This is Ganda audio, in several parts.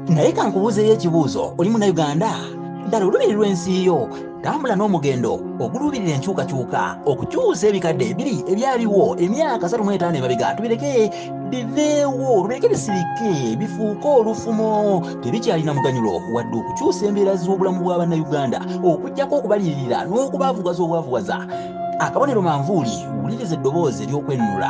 naye kankubuuzeyo ekibuuzo oli munauganda ddala olubiri lw'ensi yo tambula n'omugendo oguluubirira enkyukakyuka okukyusa ebikadde ebiri ebyaliwo emyaka satu mwetaano emabega tubireke biveewo olubireke bisirike bifuuke olufumo tebikyalina muganyulo wadde okukyusa embeera z'obulamu bwa bannayuganda okugyako okubalirira n'okubavugaza obwavugaza akabonero manvuuli wuliriza eddoboozi ery'okwennula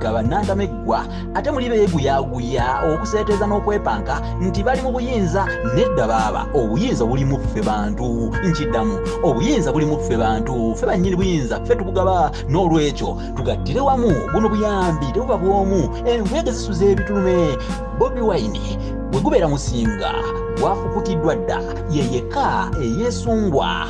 gaba nantameggwa ate muli beeguyaguya okuseeteeza n'okwepanka nti bali mu buyinza nedda baaba obuyinza buli mu ffe bantu nkiddamu obuyinza buli mu ffe bantu ffe bannyini buyinza ffe tubugaba n'olwekyo tugattire wamu buno buyambi tebuba bw'omu envuyege zisuza ebitulume bobi wine bwe gubeera musinga gwafukutiddwa dda ye yekka eyeesungwa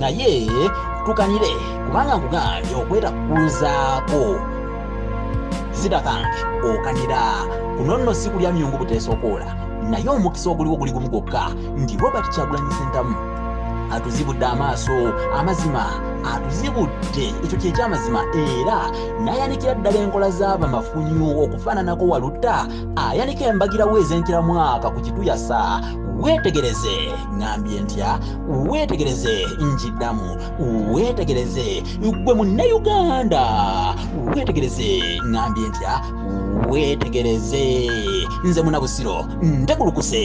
naye tukanire kubanga nkugambye okwetakuzaako zitakange okanira kuno nno si kulya myungu buteesokoola naye omukisa oguliwo guli gumu gwokka nti robert kyagulanyi sentamu atuzibudde amaaso amazima atuzibudde ekyo kyekyamazima era nayanikira ddala enkola z'abamafunyu okufaananako walutta ayanika embagirawo ez'entira mwaka ku kituyasa weetegereze ŋambye ntya weetegereze njiddamu weetegereze gwe munnayuganda weetegereze ŋambye ntya weetegereze nze munabusiro ndekulukuse